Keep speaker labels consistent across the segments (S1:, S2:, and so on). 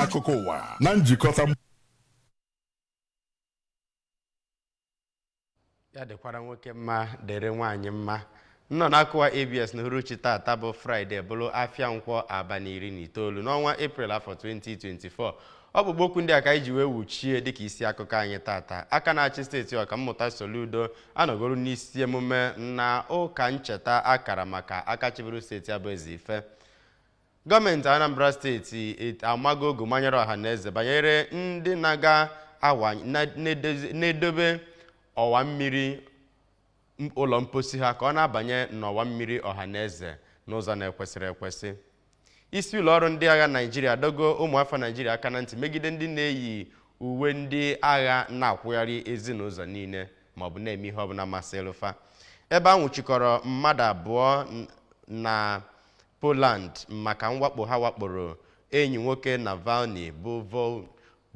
S1: akụkọ ụwa na
S2: njikọta ya dịkwara nwoke mma dịrị nwaanyị mma nnọọ n'akụkọ ụwa abs na uhuruchi tata bụ fraịde bụrụ afịa nkwọ abalị iri na itoolu n'ọnwa eprel afọ 2024 ọkpụrụkpụ okwu ndị a ka anyị ji wee wuchie dịka isi akụkọ anyị tata aka na-achị steeti a ọkammụta soludo anọgoro n'isi emume na ụka ncheta a kara maka aka chịburu steeti a bụ ezeife gọọmenti anambra steeti et- amago ogu manyere ọha na eze banyere ndị na-aga awa na- na-edozi- na-edobe ọwa mmiri m- ụlọ mposi ha ka ọ na-abanye n'ọwa mmiri ọha na eze n'ụzọ na-ekwesịrị ekwesị isi ụlọ ọrụ ndị agha naijiria adọgo ụmụafọ naijiria aka na ntị megide ndị na-eyi uwe ndị agha na-akwụgharị ezi n'ụzọ niile maọbụ na-eme ihe ọbụla masịrị fa ebe a nwụchikọrọ mmadụ abụọ n- na Poland maka mwakpo ha wakporo enyi nwoke Navalny bụ Vol-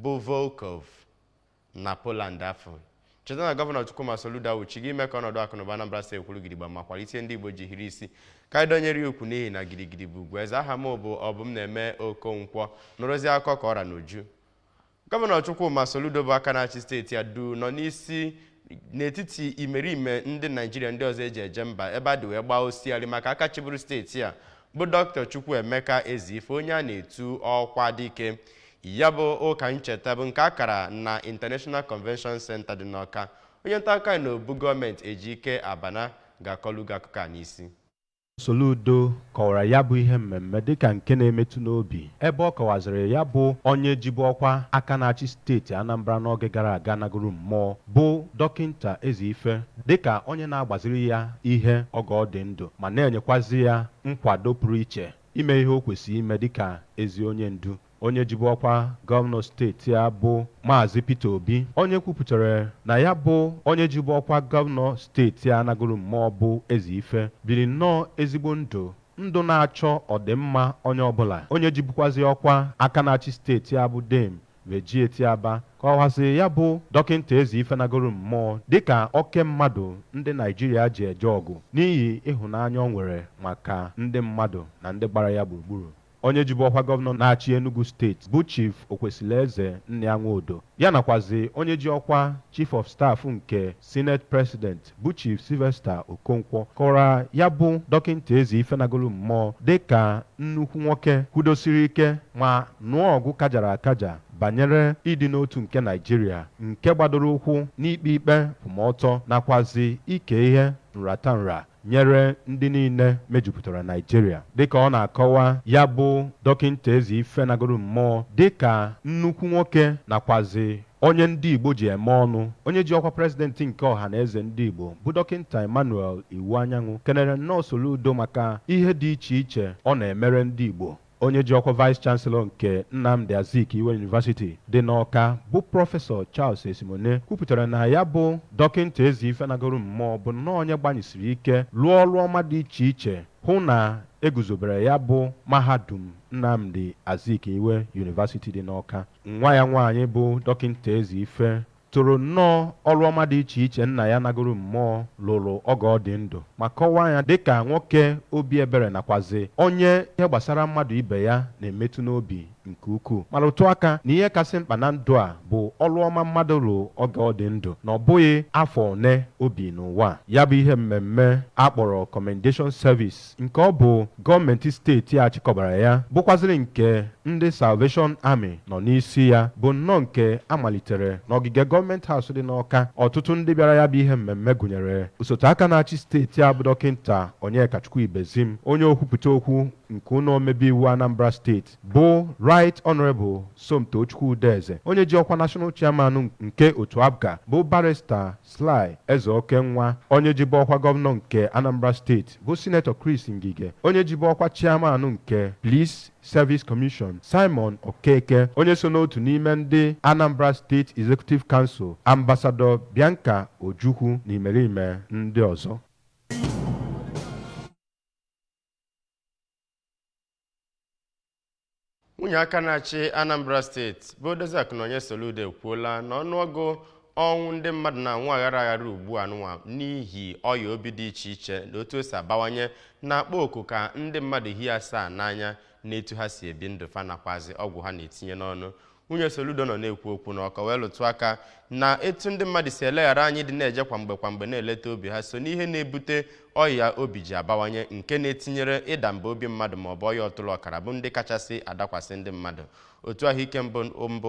S2: bụ Volkov na Poland afụ cheta na gọvanọ Chukwuma Soludo awụchigo ime ka ọnọdụ akụnụba Anambra steeti kwụrụ gidigba ma kwalite ihe ndị Igbo ji hiri isi ka anyị dọnyere ya ukwu n'ihi na gidigidi bụ ugwu eze aha m bụ Ọbụmneme Okonkwo nụrụzi akụkọ ka ọ ra n'uju gọvanọ chukwuma soludo bụ aka na-achị steeti a du nọ n'isi n'etiti imerime ndị naijiria ndị ọzọ e ji eje mba ebe a dị wee gbaa osiari maka aka chịburu steeti a bụ dr chukwuemeka ezeife onye a na-etu okwadike ya bụ ụka ncheta bụ nke a kara na international convention center dị n'ọka onye nta akụkọ na obu gọọmenti ejike abana ga-akọlụ gị akụkọ a n'isi
S3: Soludo kọwara ya bụ ihe mmemme dịka nke na-emetụ n'obi ebe ọ kọwazịrị ya bụ onye jibu ọkwa aka na-achị steeti Anambra n'oge gara aga nagoro mmụọ bụ Dọkịnta Ezeife dịka onye na-agbaziri ya ihe oge ọ dị ndụ ma na-enyekwazị ya nkwado pụrụ iche ime ihe o kwesịrị ime dịka ezi onye ndu. Onye jibu ọkwa gọvanọ steeti a bụ Maazị Peter Obi, onye kwupụtara na ya bụ onye jibu ọkwa gọvanọ steeti a nagoro mmụọ bụ Ezeife, biri nnọọ ezigbo ndụ, ndụ na-achọ ọdịmma onye ọbụla. Onye jibukwazị ọkwa aka na-achị steeti a bụ Dame Virgy Etiaba kọwazịrị ya bụ Dọkịnta Ezeife nagoro mmụọ dịka oke mmadụ ndị Naịjirịa ji eje ọgụ n'ihi ịhụnanya o nwere maka ndị mmadụ na ndị gbara ya gburugburu. Onye jibu ọkwa gọvanọ na-achị Enugu steeti bụ Chief Okwesilieze Nnia Nwodo, ya nakwazị onye ji ọkwa Chief of Staff nke Senate President bụ Chief Sylvester Okonkwo kọwara ya bụ Dọkịnta Ezeife nagolu mmọọ dịka nnukwu nwoke kwụdosiri ike ma nụọ ọgụ kajara akaja banyere ịdị n'otu nke Naịjirịa nke gbadoro ụkwụ n'ikpe ikpe nkwụmọtọ nakwazị ike ihe nratanra nyere ndị niile mejupụtara Naịjirịa dịka ọ na-akọwa ya bụ Dọkịnta Ezeife nagoro mmụọ dịka nnukwu nwoke nakwazị onye ndị Igbo ji eme ọnụ. Onye ji ọkwa President nke Ọhanaeze ndị Igbo bụ Dọkịnta Emmanuel Iwuanyanwu kenere nnọọ Soludo maka ihe dị iche iche ọ na-emere ndị Igbo. Onye ji ọkwa Vice Chancellor nke Nnamdi Azikiwe University dị n'Awka bụ Prọfesọ Charles Esimone kwupụtara na ya bụ Dọkịnta Ezeife nagoro mmụọ bụ nnọọ onye gbanyesiri ike lụọ ọrụ ọma dị iche iche hụ na e guzobere ya bụ Mahadum Nnamdi Azikiwe University dị n'Awka. Nwa ya nwaanyị bụ Dọkịnta Ezeife toro nnọọ ọrụ ọma dị iche iche nna ya nagoro mmụọ lụrụ oge ọ dị ndụ ma kọwaa ya dị ka nwoke obi ebere nakwazị onye ihe gbasara mmadụ ibe ya na-emetụ n'obi nke ukwuu ma rụtụ aka na ihe kasị mkpa na ndụ a bụ ọrụ ọma mmadụ lụrụ oge ọ dị ndụ na ọ bụghị afọ one o bi n'ụwa. Ya bụ ihe mmemme a kpọrọ Commendation Service nke ọ bụ gọọmenti steeti a chịkọbara ya bụkwazịrị nke ndị Salvation Army nọ n'isi ya bụ nnọọ nke a malitere n'ogige gọọmenti House dị n'Awka ọtụtụ ndị bịara ya bụ ihe mmemme gụnyere osote aka na-achị steeti a bụ Dọkịnta Onyekachukwu Ibezim onye okwupụta okwu nke ụnọ omebe iwu Anambra steeti bụ Right Honourable Somtochukwu Udeze onye ji ọkwa National Chairman nke otu APGA bụ Barrister Sly Ezeokenwa onye jibu ọkwa gọvanọ nke Anambra steeti bụ Sinetọ Chris Ngige onye jibu ọkwa Chairman nke Police Service Commission Simon Okeke onye so n'otu n'ime ndị Anambra State Executive Council Ambassador Bianca Ojukwu na imerime ndị ọzọ
S2: nwunye aka na-achị Anambra steeti bụ Odoziakụ Nonye Soludo ekwuola na ọnụọgụ ọnwụ ndị mmadụ na-anwụ aghara aghara ugbu a nwa n'ihi ọya obi dị iche iche na otu o si abawanye na-akpọ oku ka ndị mmadụ hie asaa n'anya n'etu ha si ebi ndụ fa nakwazi ọgwụ ha na-etinye n'ọnụ nwunye Soludo nọ na-ekwu okwu n'Awka wee lụtụ aka na etu ndị mmadụ si eleghara anya ịdị na-eje kwa mgbe kwa mgbe na-eleta obi ha so n'ihe na-ebute ọya obi ji abawanye nke na-etinyere ịda mba obi mmadụ ma ọ bụ ọya ọtụrụ ọkara bụ ndị kachasị adakwasị ndị mmadụ otu ahụike mba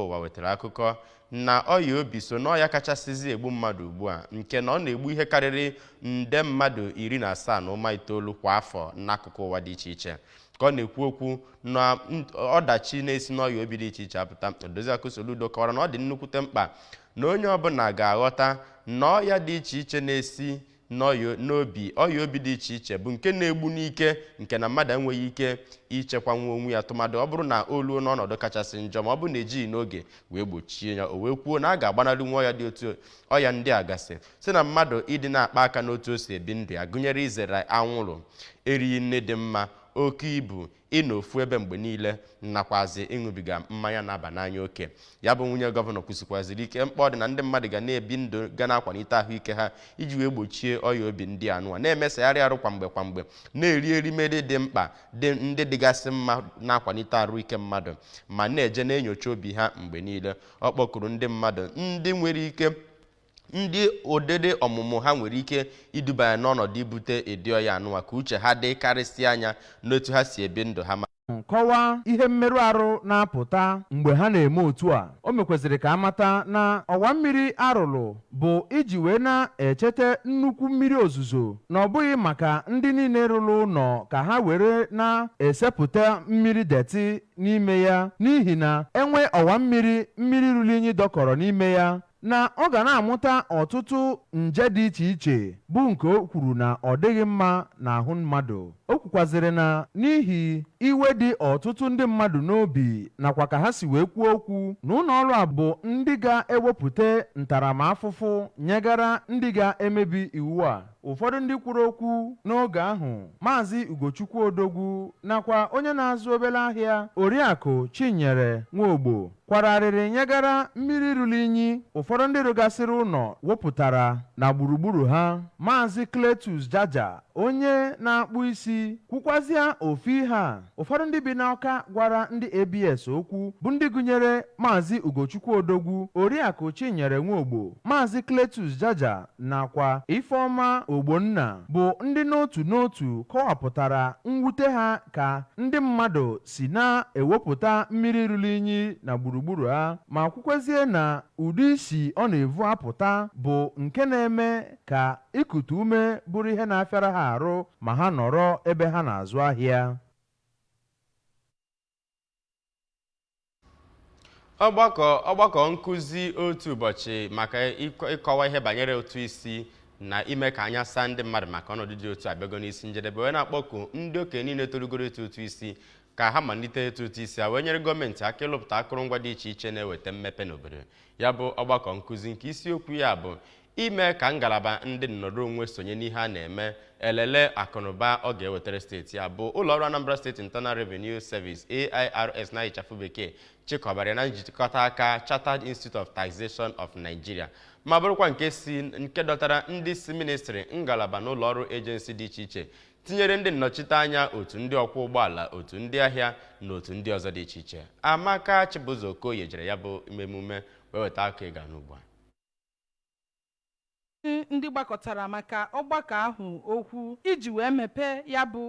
S2: ụwa wetara akụkọ na ọya obi so n'ọya kachasịzi egbu mmadụ ugbu a nke na ọ na-egbu ihe karịrị nde mmadụ iri na asaa na ụma itoolu kwa afọ n'akụkụ ụwa dị iche iche ka ọ na-ekwu okwu na n- ọdachi na-esi n'ọya obi dị iche iche apụta odoziakụ soludo kọwara na ọ dị nnukwute mkpa na onye ọbụla ga-aghọta na ọya dị iche iche na-esi n'ọya- n'obi ọya obi dị iche iche bụ nke na-egbu n'ike nke na mmadụ enweghị ike ichekwanwu onwe ya tụmadụ ọ bụrụ na o luo n'ọnọdụ kachasị njọ ma ọ bụ na ejighị n'oge wee gbochie ya o wee kwuo na a ga-agbanarị nwa ọya dị otu ọya ndị a gasị si na mmadụ ịdị na-akpa aka n'otu o si ebi ndụ ya gụnyere izere anwụrụ erighị nni dị mma oke ibu ịnọ ofu ebe mgbe niile nakwazi ịṅụbiga mmanya na-aba n'anya oke ya bụ nwunye gọvanọ kwusikwaziri ike mkpa ọ dị na ndị mmadụ ga na-ebi ndụ ga na-akwalite ahụike ha iji wee gbochie ọya obi ndị anụwa na-emesagharị arụ kwa mgbe kwa mgbe na-eri erimeri dị mkpa ndị dịgasị mma na-akwalite arụ ike mmadụ ma na-eje na-enyocha obi ha mgbe niile ọ kpọkuru ndị mmadụ ndị nwere ike ndị ụdịdị ọmụmụ ha nwere ike iduba ya n'ọnọdụ ibute ụdị ọya anụwa ka uche ha dị karịsịa anya n'otu ha si ebi ndụ ha ma kọwaa ihe
S4: mmerụ arụ na-apụta mgbe ha na-eme otu a o mekweziri ka a mata na ọwa mmiri a rụrụ bụ iji wee na-echete nnukwu mmiri ozuzo na ọ bụghị maka ndị niile rụrụ ụlọ ka ha were na-esepụta mmiri detị n'ime ya n'ihi na e nwee ọwa mmiri mmiri ruru inyi dọkọrọ n'ime ya na ọ ga na-amụta ọtụtụ nje dị iche iche bụ nke o kwuru na ọ dịghị mma n'ahụ mmadụ. O kwukwazịrị na n'ihi iwe dị ọtụtụ ndị mmadụ n'obi nakwa ka ha si wee kwuo okwu na ụlọọrụ a bụ ndị ga-ewepụta ntaramahụhụ nyegara ndị ga-emebi iwu a. Ụfọdụ ndị kwuru okwu n'oge ahụ, Maazị Ugochukwu Odogwu nakwa onye na-azụ obere ahịa, Oriakụ Chinyere Nwogbo kwara arịrị nyegara mmiri ruru inyi ụfọdụ ndị rụgasịrị ụlọ wepụtara na gburugburu ha maazị Cletus Jaja onye na-akpụ isi kwukwazịa ofu ihe a ụfọdụ ndị bi n'Awka gwara ndị ABS okwu bụ ndị gụnyere maazị Ugochukwu Odogwu Oriakụ Chinyere Nwogbo maazị Cletus Jaja nakwa Ifeọma Ogbonna bụ ndị n'otu n'otu kọwapụtara mwute ha ka ndị mmadụ si na-ewepụta mmiri ruru inyi na gburugburu a ma kwukwezie na ụdị isi ọ na-evu apụta bụ nke na-eme ka ikute ume bụrụ ihe na-afịara ha arụ ma ha nọrọ ebe ha na-azụ ahịa.
S2: ọgbakọ ọgbakọ nkụzi otu ụbọchị maka ịkọ- ịkọwa ihe banyere ụtụ isi na ime ka anya saa ndị mmadụ maka ọnọdụ dị otu a abịago n'isi njedebe wee na-akpọku ndị okenye niile torugoro ịtụ ụtụ isi ka ha malite ịtụ ụtụ isi a wee nyere gọọmenti aka ịlụpụta akụrụngwa dị iche iche na-eweta mmepe n'obodo ya bụ ọgbakọ nkụzi nke isiokwu ya bụ ime ka ngalaba ndị nnọrọ onwe sonye n'ihe a na-eme elele akụnụba ọ ga-ewetara steeti ya bụ ụlọọrụ Anambra State Internal Revenue Service AIRS na ịchafụ bekee chịkọbara ya na njikọta aka Chartered Institute of Taxation of Nigeria ma bụrụkwa nke dọtara ndị si ministrị ngalaba na ụlọọrụ ejensi dị iche iche tinyere ndị nnọchiteanya otu ndị ọkwọ ụgbọala otu ndị ahịa na otu ndị ọzọ dị iche iche Amaka Chibụzọ Okoye jere ya bụ emume wee weta ka ị ga-anụ ugbu a
S5: ndị gbakọtara maka ọgbakọ ahụ okwu iji wee mepee ya bụ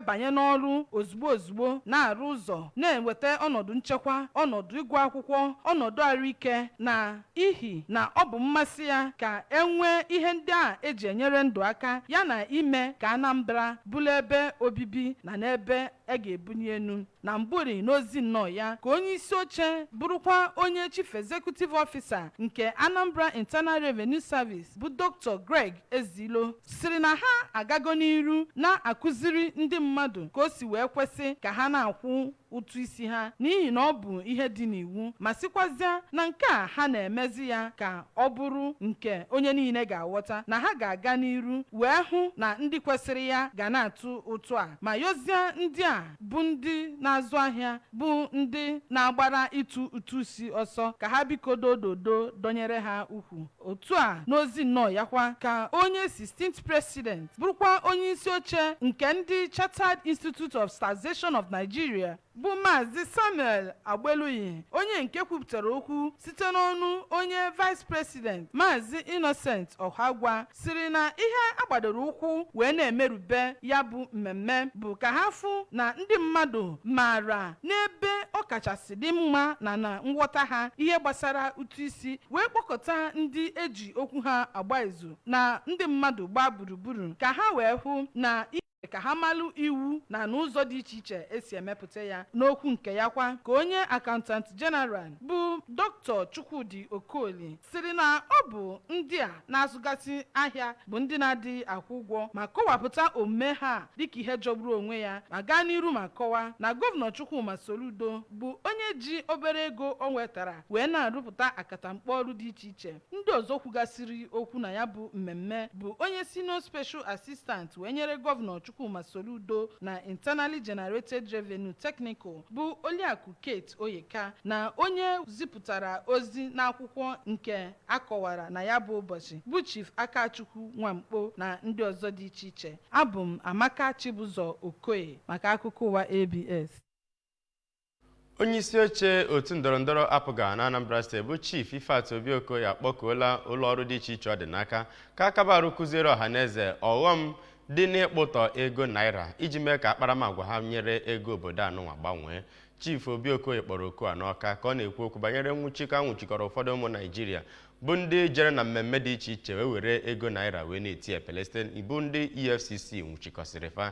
S5: banye n'ọrụ ozugbo ozugbo na-arụ ụzọ na-enweta ọnọdụ nchekwa ọnọdụ ịgụ akwụkwọ ọnọdụ arụike na ihi na ọ bụ mmasị ya ka e nwee ihe ndị a e ji enyere ndụ aka ya na ime ka Anambra bụrụ ebe obibi na n'ebe a ga-ebunye enu na mbụri n'ozi nnọọ ya ka onye isi oche bụrụkwa onye chief executive officer nke Anambra Internal Revenue Service bụ Dr. Greg Ezilo sịrị na ha agago n'iru na-akụziri ndị mmadụ ka o si wee kwesị ka ha na-akwụ ụtụ isi ha n'ihi na ọ bụ ihe dị n'iwu ma sịkwazịa na nke a ha na-emezi ya ka ọ bụrụ nke onye niile ga-aghọta na ha ga-aga n'iru wee hụ na ndị kwesịrị ya ga na-atụ ụtụ a ma yozie ndị a bụ ndị na-azụ ahịa bụ ndị na-agbara ịtụ ụtụ isi ọsọ ka ha biko dododo dọnyere ha ukwu otu a n'ozi nnọọ ya kwa ka onye 16th president bụrụkwa onye isi oche nke ndị Chartered Institute of Taxation of Nigeria bụ maazị samuel agbeluyi onye nke kwupụtara okwu site n'ọnụ onye vice president maazị innocent ọhagwa sịrị na ihe a gbadoro ụkwụ wee na-emerube ya bụ mmemme bụ ka ha fụ na ndị mmadụ maara n'ebe ọ kachasị dị mma na na nghọta ha ihe gbasara ụtụ isi wee kpọkọta ndị e ji okwu ha agba izu na ndị mmadụ gbaa gburugburu ka ha wee hụ na ka ha malụ iwu na n'ụzọ dị iche iche e si emepụta ya n'okwu nke ya kwa ka onye Accountant General bụ Dr. chukwudi okoli sịrị na ọ bụ ndị a na-azụgasị ahịa bụ ndị na-adịghị akwụ ụgwọ ma kọwapụta omume ha dịka ihe jọgburu onwe ya ma gaa n'iru ma kọwa na gọvanọ chukwuma soludo bụ onye ji obere ego o nwetara wee na-arụpụta akatamkpo ọrụ dị iche iche Ndị ọzọ kwugasịrị okwu na ya bụ mmemme bụ onye Senior Special Assistant wee nyere Gọvanọ Chukwuma Soludo na Internally Generated Revenue Technical bụ Oliakụ Kate Oyeka na onye zipụtara ozi n'akwụkwọ nke a kọwara na ya bụ ụbọchị bụ Chief Akachukwu Nwankpo na ndị ọzọ dị iche iche. Abụ m Amaka Chibụzọ Okoye maka akụkọ ụwa ABS.
S2: onye isi oche otu ndọrọndọrọ apga na anambra steeti bụ chief ifeatụ obi okoye akpọkuola ụlọ ọrụ dị iche iche ọ dị n'aka ka akaba arụ kụziere ọha na eze ọghọm dị n'ịkpụtọ ego naira iji mee ka akparamagwa ha nyere ego obodo anụnwa gbanwee chief obi okoye kpọrọ oku a n'ọka ka ọ na-ekwu okwu banyere nwụchikọ a nwụchikọrọ ụfọdụ ụmụ naijiria bụ ndị jere na mmemme dị iche iche wee were ego naira wee na-eti epele site bụ ndị efcc nwụchikọsịrị fa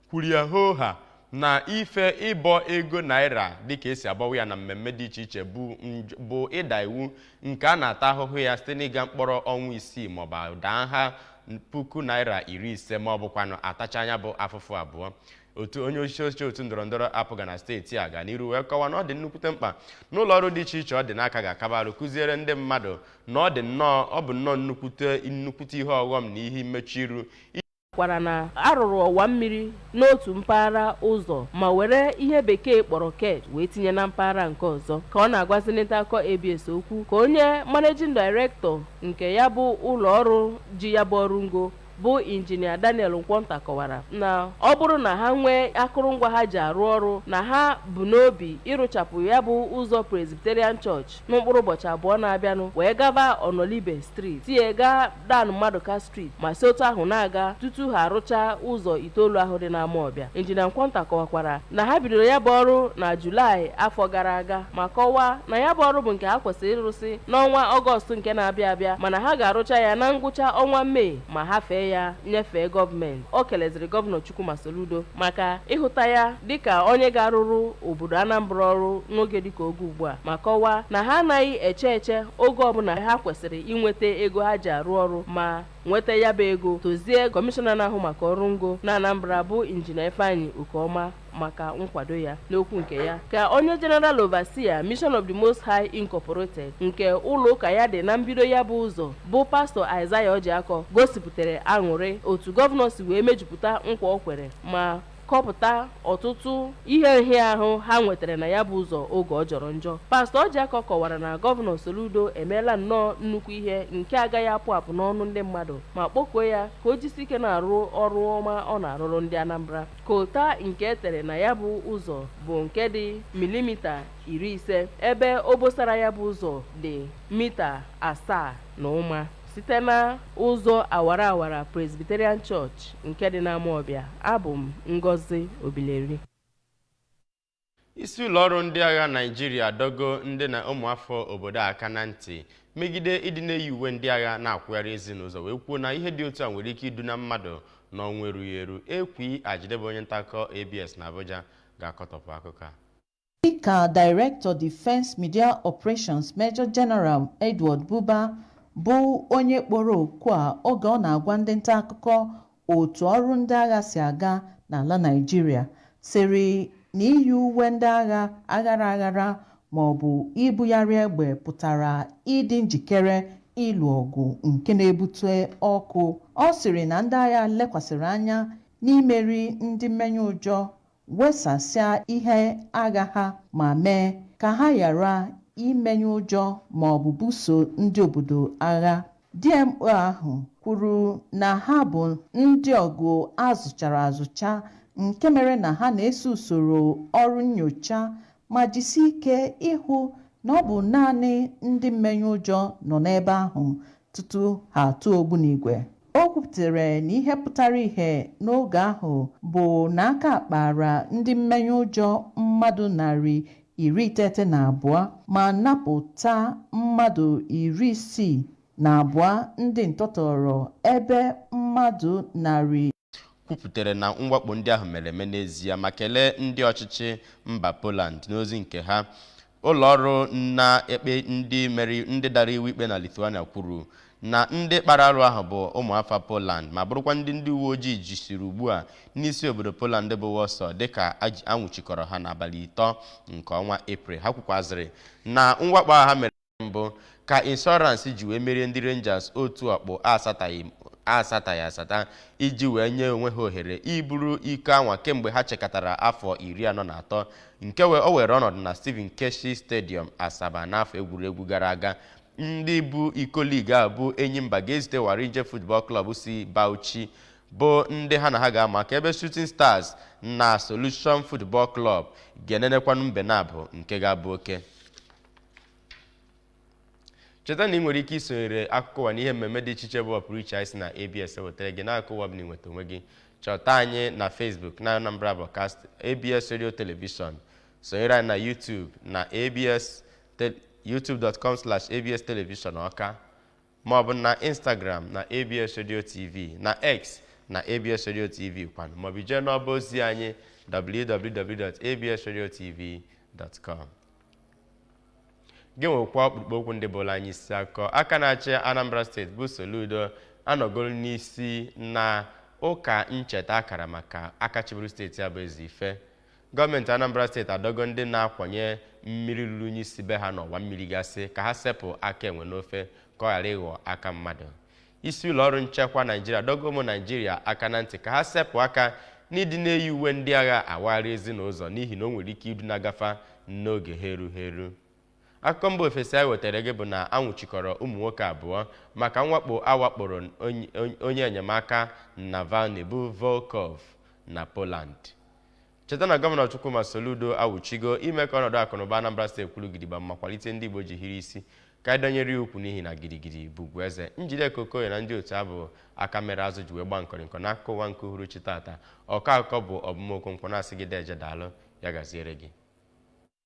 S2: kwuru ya hoo haa na ife ịbọ ego naira dịka e si abọwa ya na mmemme dị iche iche bụ nj- bụ ịda iwu nke a na-ata ahụhụ ya site n'ịga mkpọrọ ọnwa isii maọbụ daa nha puku naira iri ise ma ọ bụkwanụ atachaa nya bụ afụfụ abụọ otu onye isi oche otu ndọrọndọrọ apga na steeti a ga n'iru wee kọwaa na ọ dị nnukwute mkpa na ụlọ ọrụ dị iche iche ọ dị n'aka ga-akaba arụ kụziere ndị mmadụ na ọ dị nnọọ ọ bụ nnọọ nnukwute nnukwute ihe ọghọm na ihe mmechu iru kwara
S6: na a rụrụ ọwa mmiri n'otu mpaghara ụzọ ma were ihe bekee kpọrọ kerb wee tinye na mpaghara nke ọzọ ka ọ na-agwazi nta akụkọ abs okwu ka onye managing director nke ya bụ ụlọ ọrụ ji ya bụ ọrụ ngo bụ injinia daniel nkwọnta kọwara na ọ bụrụ na ha nwee akụrụngwa ha ji arụ ọrụ na ha bu n'obi ịrụchapụ ya bụ ụzọ presbyterian church na mkpụrụ ụbọchị abụọ na-abịanụ wee gaba ọnọlibe street sie gaa dan maduka street ma si otu ahụ na-aga tutu ha arụchaa ụzọ itoolu ahụ dị n'amawbịa injinia nkwọnta kọwakwara na ha bidoro ya bụ ọrụ na julaị afọ gara aga ma kọwaa na ya bụ ọrụ bụ nke ha kwesịrị ịrụsị n'ọnwa ọgọstụ nke na-abịa abịa mana ha ga-arụcha ya na ngwụcha ọnwa mee ma hafee ya nyefee gọọmenti o keleziri gọvanọ chukwuma soludo maka ịhụta ya dịka onye ga-arụrụ obodo Anambra ọrụ n'oge dịka oge ugbu a ma kọwaa na ha anaghị eche eche oge ọbụla ha kwesịrị inweta ego ha ji arụ ọrụ ma nweta ya bụ ego tozie kọmishọna na-ahụ maka ọrụ ngo na Anambra bụ injinia Ifeanyi Okeọma maka nkwado ya n'okwu nke ya ka onye General Overseer Mission of the Most High Incorporated nke ụlọ ụka ya dị na mbido ya bụ ụzọ bụ pastọ Isaiah Ojiakọ gosipụtara aṅụrị otu gọvanọ si wee mejupụta nkwa o kwere ma kọpụta ọtụtụ ihe nhịahụ ha nwetara na ya bụ ụzọ oge ọ jọrọ njọ pastọ Ojiakọ kọwara na gọvanọ Soludo emeela nnọọ nnukwu ihe nke agaghị apụ apụ n'ọnụ ndị mmadụ ma kpọkuo ya ka o jisi ike na-arụ ọrụ ọma ọ na-arụrụ ndị Anambra kota nke e tere na ya bụ ụzọ bụ nke dị milimita iri ise ebe obosara ya bụ ụzọ dị mita asaa na ụma site na ụzọ awara awara Presbyterian Church nke dị n'Amawbịa abụ m Ngozi Obileri
S2: isi ụlọọrụ ndị agha naijiria adọgo ndị na ụmụafọ obodo a aka na ntị megide ịdị na-eyi uwe ndị agha na-akwụgharị ezi n'ụzọ wee kwuo na ihe dị otu a nwere ike iduna mmadụ n'ọnwụ erughị eru ekwi ajide bụ onye nta akụkọ abs na abuja ga-akọtọpụ akụkọ a
S7: Dịka Director Defence Media Operations Major General Edward Buba bụ onye kpọrọ oku a oge ọ na-agwa ndị ntaakụkọ otu ọrụ ndị agha si aga n'ala Naịjirịa sịrị na iyi uwe ndị agha aghara aghara maọbụ ibugharị egbe pụtara ịdị njikere ịlụ ọgụ nke na-ebute ọkụ. Ọ sịrị na ndị agha lekwasịrị anya n'imeri ndị mmenye ụjọ wesasịa ihe agha ha ma mee ka ha ghara imenye ụjọ ma ọ bụ buso ndị obodo agha. DMO ahụ kwuru na ha bụ ndị ọgụ a zụchara azụcha nke mere na ha na-eso usoro ọrụ nnyocha ma jisie ike ịhụ na ọ bụ naanị ndị mmenye ụjọ nọ n'ebe ahụ tutu ha atụọ ogbunigwe. O kwuputere na ihe pụtara ihe n'oge ahụ bụ na aka kpaara ndị mmenye ụjọ mmadụ narị iri iteghete na abụọ ma napụta mmadụ iri isii na abụọ ndị ntọtọọrọ ebe mmadụ narị kwuputere
S2: na mwakpo ndị ahụ mere eme n'ezie ma kelee ndị ọchịchị mba Poland n'ozi nke ha ụlọ ọrụ na-ekpe ndị mere ndị dara iwu ikpe na Lithuania kwuru na ndị kpara arụ ahụ bụ ụmụafọ Poland ma bụrụkwa ndị ndị uwe ojii jisiri ugbu a n'isi obodo Poland bụ Warsaw dịka a nwụchikọrọ ha n'abalị ịtọ nke ọnwa Eprel ha kwukwazịrị na mwakpo a ha mere mbụ ka Insurance ji wee merie ndị Rangers otu ọkpụ asataghị asata iji wee nye onwe ha ohere iburu iko anwa kemgbe ha chekatara afọ iri anọ na atọ nke o were ọnọdụ na Stephen Keshi Stadium Asaba n'afọ egwuregwu gara aga ndị bu iko ligi a bụ Enyimba ga-ezute Warinje Football Club si Bauchi bụ ndị ha na ha ga-ama aka ebe Shooting Stars na Solution Football Club ga-enenekwanụ mbe naabọ nke ga-abụ oke cheta na i nwere ike isonyere akụkọ ụwa na ihe mmemme dị iche iche bụ ọpụrụ iche anyị si na abs ewetara gị n'akụkụ ụwa ọbụna i nweta onwe gị chọta anyị na facebook na anambra broadcast abs radio television sonyere anyị na youtube na abs te- youtube.com slash abs television ọka ma ọ bụ na Instagram na ABS Radio TV na X na ABS Radio TV kwanụ maọbụ jee n'ọba ozi anyị www.absradiotv.com genwekwa ọkpụrụkpụ okwu ndị bụlụ anyị isi akụkọ aka na-achị Anambra steeti bụ Soludo anọgoro n'isi na ụka ncheta a kara maka aka chịburu steeti a bụ Ezeife gọọmenti anambra steeti adọgo ndị na-akwanye mmiri ruru unyi si be ha n'ọwa mmiri gasị ka ha sepụ aka enwe n'ofe ka ọ ghara ịghọ aka mmadụ isi ụlọ ọrụ nchekwa naijiria adọgo ụmụ naijiria aka na ntị ka ha sepụ aka n'ịdị na-eyi uwe ndị agha awagharị ezi na ụzọ n'ihi na o nwere ike idu na-agafa n'oge ha erughị eru akụkọ mba ofesi anyị wetara gị bụ na a nwụchikọrọ ụmụ nwoke abụọ maka mwakpo a wakporo onye enyemaka Navalny bụ Volkov na Poland cheta na gọvanọ Chukwuma Soludo awụchigo ime ka ọnọdụ akụnụba Anambra steeti kwụrụ gidigba ma kwalite ndị Igbo ji hiri isi ka anyị dọnyere ya ukwu n'ihi na gidigidi bụ ugwu eze Njideka Okoye na ndị otu ya bụ aka mere azụ ji wee gba nkọrịnkọ n'akụkọ ụwa nke uhuruchi tata ọkọ akụkọ bụ Ọbụm Okonkwo na-asị gị deje daalụ ya gaziere gị